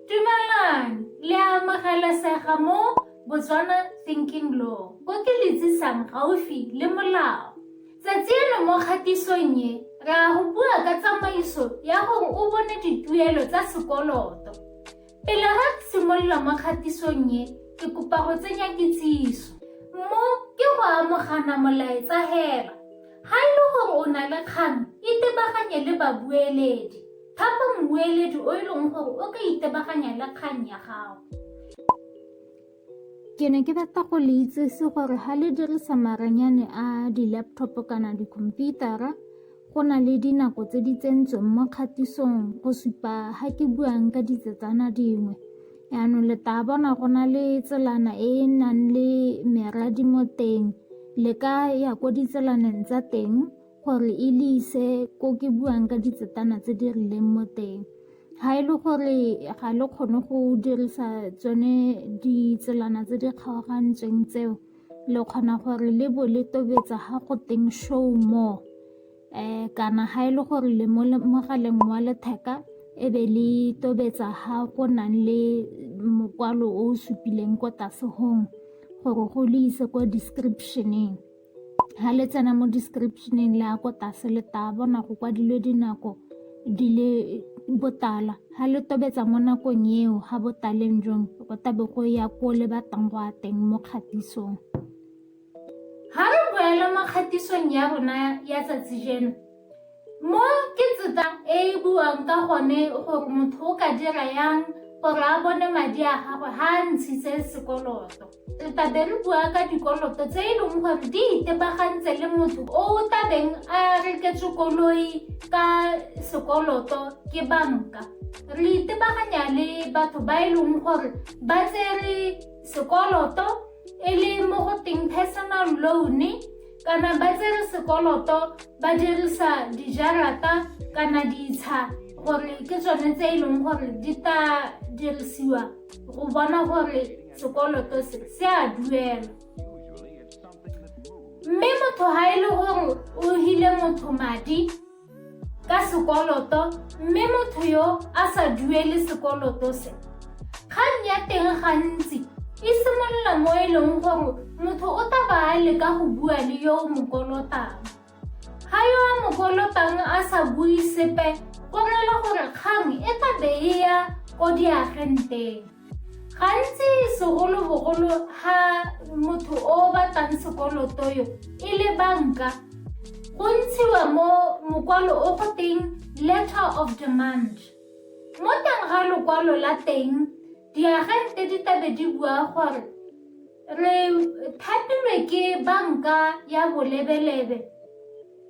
Dumelang, le amogelesega mo Botswana Thinking Law, bo ke letsisang gaufi le molao. Tsatsi eno mo kgatisong e, ra go bua ka tsamaiso ya gore o bone dituelo tsa sekoloto. Pele ga simolola mo kgatisong e, ke kopa go tsenya kitsiso. Mo ke go amogana molaetsa hela. Ga e le gore o na le kgang, itebaganye le babueledi. Thapa mmueledi o e leng gore o ka itebaganya le kgang ya gago. Ke ne ke rata go le itsese gore ga le dirisa maranyane a di-laptop kana dikhomputara go na le dinako tse di tsentsweng mo kgatisong go supa ga ke buang ka ditsetsana dingwe yaanong le taa bona go na le tselana e e nang le meradi mo teng le ka ya ko ditselaneng tsa teng gore e le ise ko ke buang ka ditsetana tse di rileng mo teng ga e le gore ga le kgone go dirisa tsone ditselana tse di kgaogantsweng tseo le kgona gore le bo le tobetsa ga go teng show more um kana ga e le gore le mo mogaleng wa letheka e be le tobetsa ga go nang le mokwalo o o supileng ko tlase gong gore go le ise kwa descriptioneng ha le tsena mo descriptioneng le ya ko tlase le tla bona go kwadilwe dinako di le botala ha le tobetsa mo nakong eo ha botaleng jong go tabe go ya ko le batlang go a teng mo kgatisong ha re boela mo kgatisong ya rona ya tsatsi jeno Mo ke tseta e e buang ka gone gore motho o ka dira yang gore a bone madi a gagwe ha a ntshitse sekoloto. Re tabe re bua ka dikoloto tse e leng gore di itebagantse le motho o o tabeng a reketswe koloi ka sekoloto ke banka. Re itebaganya le batho ba e leng gore ba tsere sekoloto e le mo go teng personal loan-e kana ba tsere sekoloto ba dirisa dijarata kana ditsha gore ke tsone tse e leng gore di tla dirisiwa go bona gore sekoloto se se a duelwa mme motho ga e le gore o hile motho madi ka sekoloto mme motho yo a sa duele sekoloto se kgang ya teng gantsi e simolola mo e leng gore motho o taba a leka go bua le yo o mo kolotang ga yo a mo kolotang a sa bue sepe go rela gore kgang e tlabe e ya ko diagenteng gantsi segolobogolo ga motho o batlang sekoloto yo e le banka go ntshiwa mo mokwalo o go teng letter of demand mo teng ga lokwalo la teng diagente di tabe di bua gore re thapilwe ke banka ya bolebelebe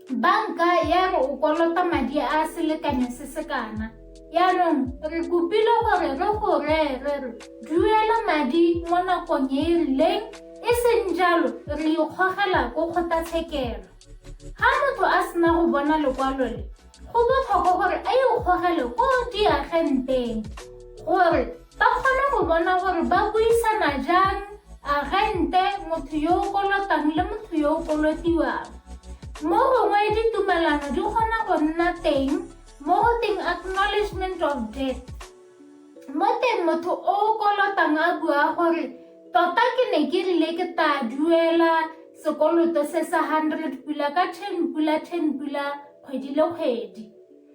banka ya re o kolota madi a selekanyo se se kana yaanong re kopile gore re go ree re re duela madi mo nakong e e rileng e seng jalo re ikgogela ko kgotlatshekelo ga motho a sena go bona lekwalo le go botlhokwa gore a ikgogele ko diagenteng gore Ba kgona go bona gore ba buisana jang agente, motho yo o kolotang le motho yo o kolotiwang. Mo gongwe ditumelano di kgona go nna teng mo go teng acknowledgement of debt. Mo teng motho o o kolotang a bua gore tota ke ne ke rile ke tla duela sekoloto se sa 100 pula ka 10 pula 10 pula kgwedi le kgwedi.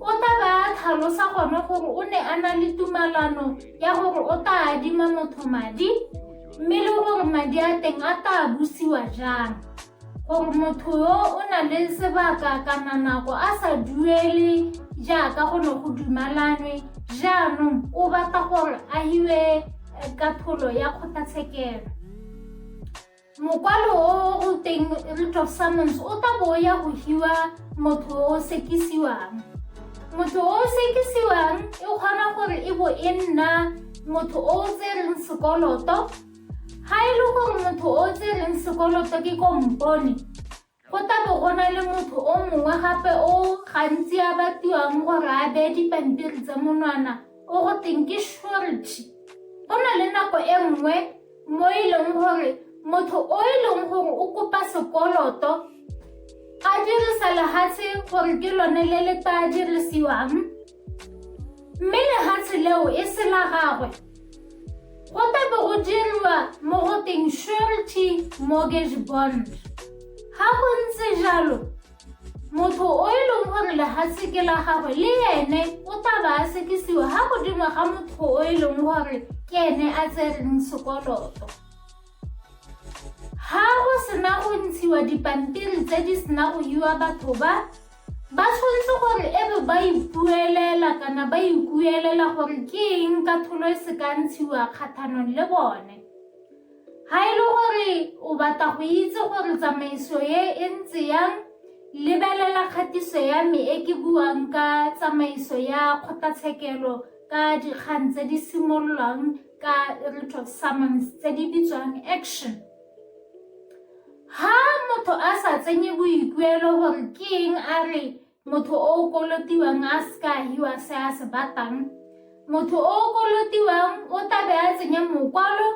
O tla ba a tlhalosa gone gore o ne a na le tumalano ya gore o tla adima motho madi mme le gore madi a teng a tla busiwa jang gore motho yo o na le sebaka kana nako a sa duele jaaka go ne go dumalanwe jaanong o batla gore a hiwe eh, katholo ya kgotlatshekelo Mokwalo o o teng Root of Summons o tla bo ya go hiwa motho o sekisiwang. Motho o sekisiwang e kgona gore e bo e nna motho o o tsereng sekoloto. Ga e le gore motho o o tsereng sekoloto ke kompone, Go tla bo go na le motho o mongwe gape o gantsi a batiwang gore a beye dipampiri tsa monwana o go teng ke shorty go na le nako e nngwe mo e leng gore motho o e leng gore o kopa sekoloto a dirisa lehatshe gore ke lone le le tla dirisiwang mme lehatshe leo e se la gagwe go tabe go dirwa mo go teng surety mortgage bond ga go ntse jalo motho o e leng gore lehatshe ke la gagwe le ene o taba a sekisiwa ga godimo ga motho o e leng gore ke ene a tsereng sekoloto ga go sena go ntshiwa dipampiri tse di sena go iwa batho ba Ba tshwanetse gore e be ba ipuelela kana ba ikuelela gore ke eng katlholo e se ka ntshiwa kgathanong le bone. Ga e le gore o batla go itse gore tsamaiso e e ntse yang, lebelela kgatiso ya me e ke buang ka tsamaiso ya kgotlatshekelo ka dikgang tse di simololwang ka writ of summons tse di bitswang action. ha motho a sa tsenye boikuelo gore ke eng a re motho o o kolotiwang a seka hiwa se a se batang motho o o kolotiwang o tlabe a tsenya mokwalo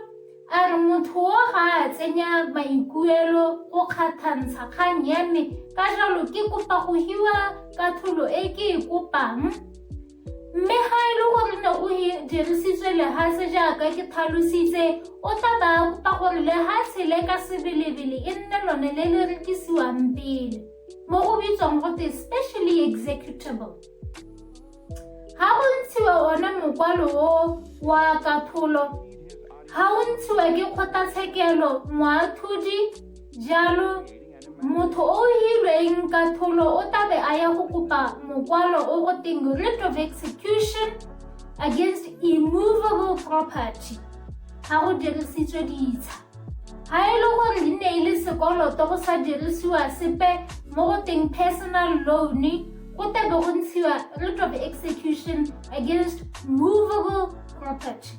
a re motho o ga a tsenya maikuelo o kgathantsha kgang ya me ka jalo ke kopa go hiwa ka tholo e ke e kopang Mme ga e le gore ne o e dirisitswe lehatshe jaaka ke tlhalositse, o tla ba kopa gore lehatshe le ka sebelebele e nne lone le le rekisiwang pele, mo go bitswang gote specially executable. Ga go ntshiwa one mokwalo o wa katlholo, ga o ntshiwa ke kgotlatshekelo, moatlhodi, jalo Motho o o hilweng ka tholo o tlabe a ya go kopa mokwalo o go teng writ of execution against immovable property ga go dirisitswe ditsha ga e le gore di ne e le sekoloto go sa dirisiwa sepe mo go teng personal loan go tlabe go ntshiwa writ of execution against movable property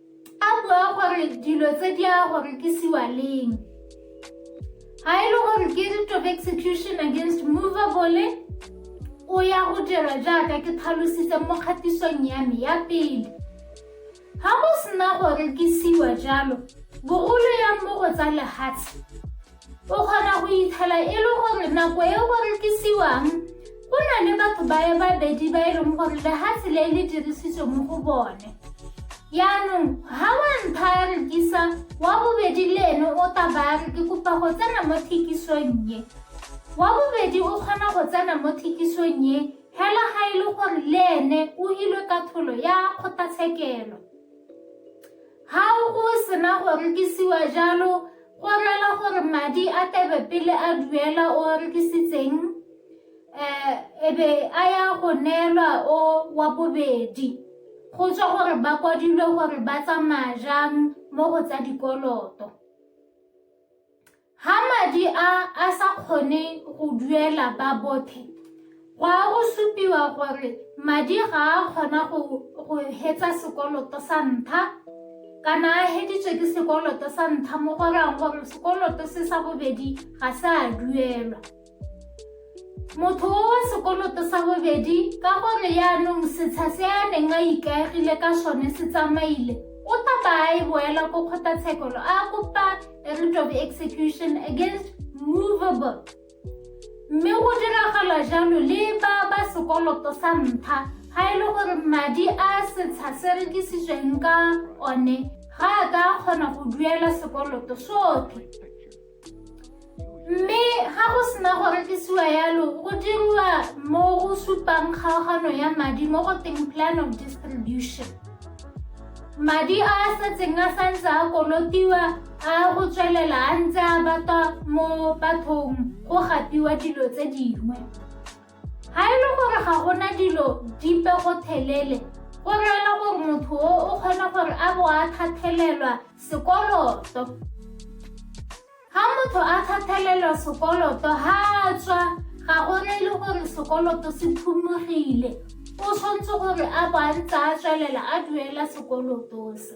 A bua gore dilo tse di a go rekisiwa leng. Ga e le gore ke writ of execution against movable o ya go dira jaaka ke tlhalositse mo kgatisong ya me ya pele. Ga go sena go rekisiwa jalo, bogolo ya mo go tsa lehatshe o kgona go itshela e le gore nako e go rekisiwang go na le batho baye babedi ba e leng gore lehatshe le le dirisitswe mo go bone yaanong ga wa ntlha ya rekisa wa bobedi le ene o taba ya re ke kopa go tsena mo thekisong ye wa bobedi o kgona go tsena mo thekisong ye fela ga e le gore le ene o ilwe ka tholo ya kgotlatshekelo Ha go sena go rekisiwa jalo, go rela gore madi a tebe pele a duela o a rekisitseng um ebe a ya go neelwa o wa bobedi go tswa gore ba kwadilwe gore ba tsamaya jang mo go tsa dikoloto Ha madi a a sa kgone go duela ba bothe, go a go supiwa gore madi ga a kgona go go hetsa sekoloto sa ntlha kana a heditswe ke sekoloto sa ntlha mo go rayang gore sekoloto se sa bobedi ga se a duelwa. motho o wa sekoloto sa bobedi ka gore yaanong setsha se a neng a ikaegile ka sone se tsamaile o tla ba a e boela ko kgotlatshekolo a kopa a writ of execution against movable mme go diragala jalo le ba ba sekoloto sa ntlha ga e le gore madi a setsha se rekisitsweng ka one ga a ka kgona go duela sekoloto sotlhe Mme ga go sena go rekisiwa yalo, go diriwa mo go supang kgaogano ya madi mo go teng plan of distribution. Madi a a setseng a santse a kolotiwa a go tswelela a ntse a batwa mo bathong go gapiwa dilo tse dingwe. Ga e le gore ga go na dilo dipe go thelele, go reela gore motho o o kgona gore a bo a thathelelwa sekoloto. Ga motho a thathelelwa sekoloto ga a tswa ga go reele gore sekoloto se phumogile, o tshwanetse gore a bo a ntse a tswelela a duela sekoloto se.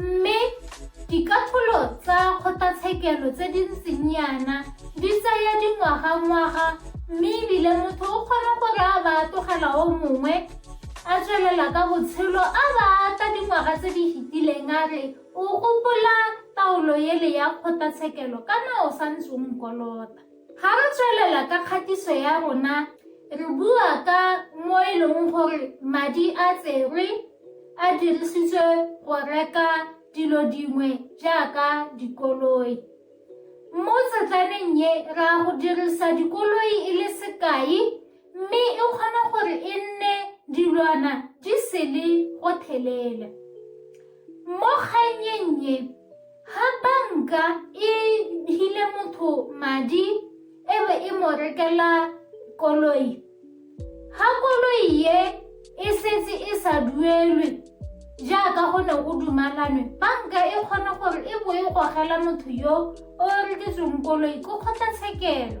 Mme dikatlholo tsa kgotlatshekelo tse di ntseng yana di tsaya dingwagangwaga mme ebile motho o kgona gore a ba tlogela o mongwe a tswelela ka botshelo a ba tla dingwaga tse di fetileng a re o gopola taolo ele ya kgotlatshekelo kana o sa ntse o nkolota Ga re tswelela ka kgatiso ya rona, re bua ka mo e leng gore madi a tserwe a dirisitswe go reka dilo dingwe jaaka dikoloi. Mo tsetlaneng ye, ra go dirisa dikoloi e le sekai Mme e kgona gore e nne dilwana di sele go thelela. Mo kgannyeng e, ha banka e hile motho madi e be e mo rekela koloi. Ha koloi e e setse e sa duelwe jaaka go ne go dumalanwe banka e kgona gore e bo e gogela motho yo o reketsweng koloi ko kgotlatshekelo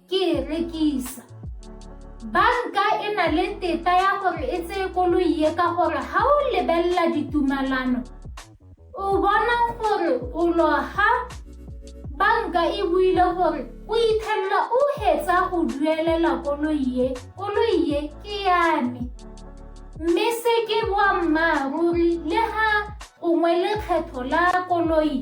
ke e rekisa banka e na le tetla ya gore e tseye koloi e ka gore ga o lebelela ditumalano o bona gore o loga banka e buile gore o ithelela o hetsa go duelela koloi e koloi e ke yame mme se ke boammaaruri le ga gongwe lekgetho la koloi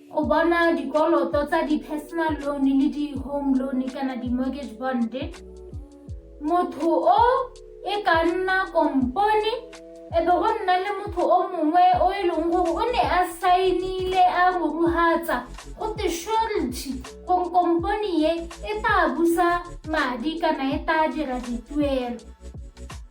Go bona dikoloto tsa di-personal loan le di-home loan kana di-mortgage bond motho o e ka nna kompone e be go nna le motho o mongwe o e leng gore o ne a saenile a moruhatsa go te surety gore kompone ye e tla busa madi kana e tla dira dituelo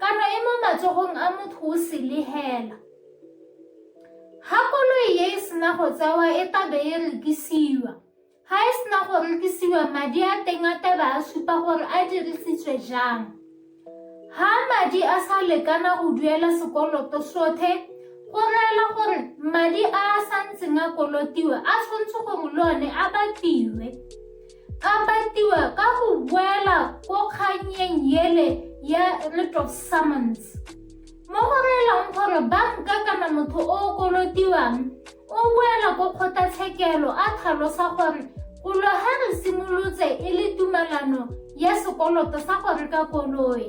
Kano e mo matsogong a motho o selehela. Ha koloi e e sena go tsewa e tabe e rekisiwa. Ha e sena go rekisiwa madi a teng a taba a supa gore a dirisitswe jang. Ha madi a sa lekana go duela sekoloto sothe, go reela gore madi a a santseng a kolotiwa a tshwanetse gore le one a batliwe. Gapatiwa ka go boela ko kganyeng yele ya writ of summons mo go reelang gore banka kana motho o o kolotiwang o boela ko kgotlatshekelo a tlhalosa gore kolo ga re simolotse e le tumalano ya sekoloto sa go reka koloi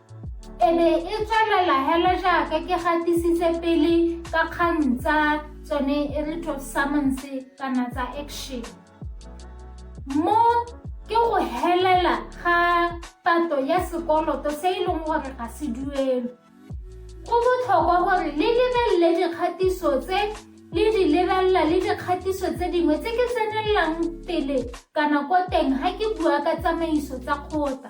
e be e tswelela hela jaaka ke gatisitse pele ka kgang tsa tsone e re to summons kana tsa action mo ke go helela ga pato ya sekoloto se e leng gore ga se duelo go botlhokwa gore le lebelele dikgatiso tse le di lebelela le dikgatiso tse dingwe tse ke tsenelelang pele kana ko teng ga ke bua ka tsamaiso tsa kgota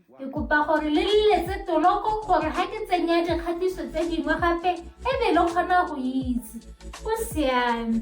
Ke kopa gore le leletse toloko gore ga ke tsenya dikgatiso tse dingwe gape e be le kgona go itse go siame